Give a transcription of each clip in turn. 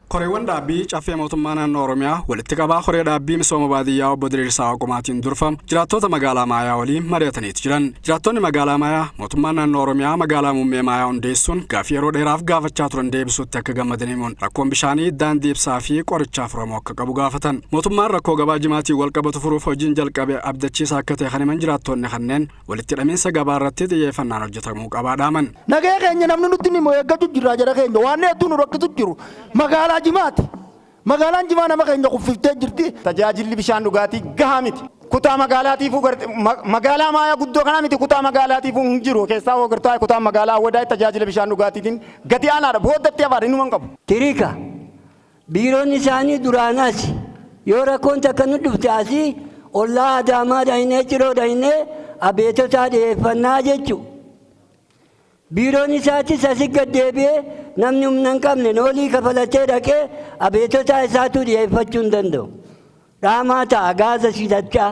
Koreewwan dhaabbii Caffee Mootummaa Naannoo Oromiyaa walitti qabaa Koree Dhaabbii Misooma Baadiyyaa Obbo Diriirsaa Waaqumaatiin durfamu jiraattoota magaalaa Maayaa waliin mari'ataniiti jiran. Jiraattoonni magaalaa Maayaa mootummaan naannoo Oromiyaa magaalaa muummee Maayaa hundeessuun gaaffii yeroo dheeraaf gaafachaa turan deebisuutti akka gammadan himuun rakkoon bishaanii, daandii ibsaa fi qorichaa furamuu akka qabu gaafatan. Mootummaan rakkoo gabaa jimaatiin walqabatu furuuf hojiin jalqabe abdachiisaa akka ta'e kan himan jiraattoonni kanneen walitti hidhamiinsa gabaa irratti xiyyeeffannaan hojjetamuu qabaa dhaaman. Nagaya keenya namni nutti ni eeggachuu jirra jara keenya waan hedduu nu rakkisu jiru magaalaa jimaati. Magaalaan jimaa nama keenya kuffiftee jirti. Tajaajilli bishaan dhugaatii gahaa miti. Kutaa magaalaatiifuu magaalaa maayaa guddoo kanaa miti kutaa magaalaatiifuu hin jiru keessaa hoo gartaa kutaa magaalaa awwadaa tajaajila bishaan dhugaatiitiin gadi aanaadha booddatti afaadha inuma hin qabu. Tiriika. Biiroon isaanii duraanaas yoo rakkoon takka nu dhufte asii ollaa Adaamaa dhaynee Ciroo dhaynee abeetotaa dhiyeeffannaa jechu. Biiroon isaatis asi gad deebi'ee namni humna hin qabne noolii kafalatee dhaqee abeetotaa isaatuu dhiyeeffachuu hin danda'u. Dhaamaa ta'a gaaza sidachaa.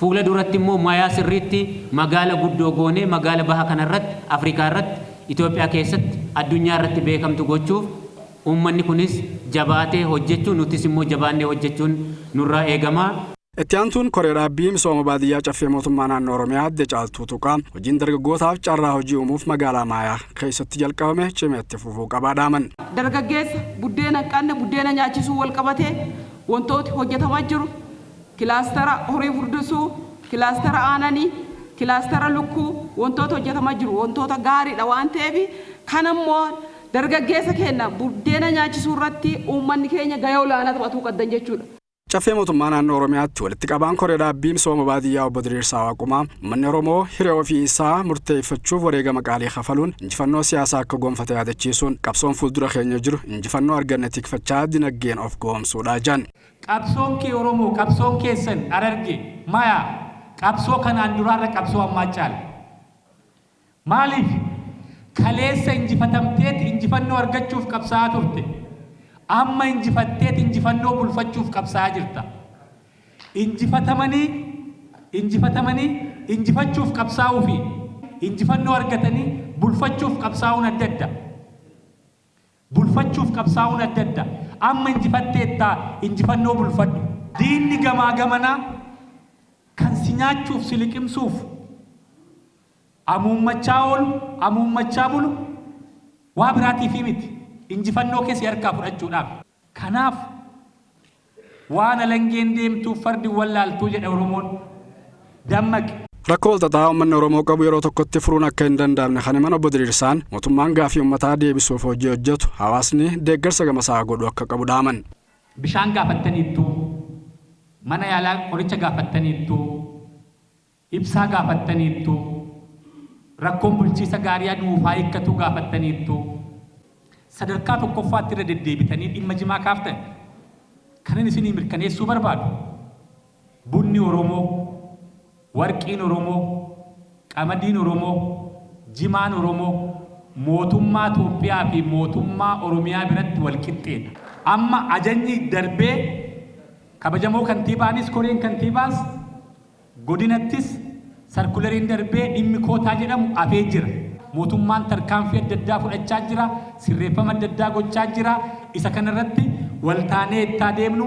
Fuula duratti immoo mayaa sirriitti magaala guddoo goonee magaala baha kana irratti, Afrikaa irratti, Itoophiyaa keessatti, addunyaa irratti beekamtu gochuuf uummanni kunis jabaatee hojjechuu nutis immoo jabaannee hojjechuun nurraa eegama. Itti aantuun Koree Dhaabbii Misooma Baadiyyaa Caffee Mootummaa Naannoo Oromiyaa Aadde Caaltuu Tuuqaa hojiin dargaggootaaf carraa hojii uumuuf magaalaa Maayaa keessatti jalqabame cimee itti fufuu qabaa dhaaman. Dargaggeessa buddeena hin qabne buddeena nyaachisuun walqabatee wantooti hojjetamaa jiru. Kilaastara horii furdusuu, kilaastara aanani, kilaastara lukkuu wantoota hojjatama jiru wantoota gaariidha waan ta'eef kana immoo dargaggeessa keenya buddeena nyaachisuu irratti uummanni keenya gahee olaanaa taphatuu qaddan jechuudha. Caffee Mootummaa Naannoo Oromiyaatti Walitti Qabaan Koree Dhaabbii Misooma Baadiyyaa Obbo Diriirsaa Waaqumaa, Uummanni Oromoo hiree ofii isaa murteeffachuuf wareegama qaalii kafaluun injifannoo siyaasaa akka goonfate yaadachiisuun, qabsoon fuuldura keenya jiru injifannoo arganne tikfachaa dinaggeen of goomsuudha jedhan. Qabsoon kee Oromoo, qabsoon keessan Hararge, Maya, qabsoo kanaan duraarra qabsoo ammaa caala. Maaliif? Kaleessa injifatamteet injifannoo argachuuf qabsaa'aa turte. Amma injifatteet injifannoo bulfachuuf qabsaa'aa jirta. Injifatamanii injifatamanii injifachuuf qabsaa'uu fi injifannoo argatanii bulfachuuf qabsaa'uun adda adda. Bulfachuuf qabsaa'uun adda adda. Amma injifatteettaa injifannoo bulfadhu. Diinni gamaa gamanaa kan si nyaachuuf si liqimsuuf amuummachaa oolu, amuummachaa bulu waa biraatiifii miti. Injifannoo kee si harkaa fudhachuudhaaf. Kanaaf. Waan alangeen deemtuuf fardi hin wallaaltuu jedha Oromoon. Dammaqi! Rakkoo walxaxaa ummanni Oromoo qabu yeroo tokkotti furuun akka hin danda'amne kan himan Obbo Diriirsaan, mootummaan gaaffii ummataa deebisuuf hojii hojjetu hawaasni deeggarsa gamasaa godhuu akka qabu dhaaman. Bishaan gaafattaniittuu? Mana yaalaa qoricha gaafattaniittuu? Ibsaa gaafattaniittu, rakkoon bulchiisa gaarii aduuf haa hiikkatuu gaafattaniittu, sadarkaa tokkoffaatti irra deddeebitanii dhimma jimaa kaaftan. Kanan isinii mirkaneessuu barbaadu, bunni Oromoo, warqiin Oromoo, qamadiin Oromoo, jimaan Oromoo mootummaa Toophiyaa fi mootummaa Oromiyaa biratti wal qixxeedha. Amma ajajni darbee kabajamoo kantiibaanis koreen kantiibaas, Godinattis sarkulariin darbee dhimmi kootaa jedhamu hafee jira. Mootummaan tarkaanfii adda addaa fudhachaa jira, sirreeffama adda addaa gochaa jira. Isa kanarratti waltaanee itti haa deemnu.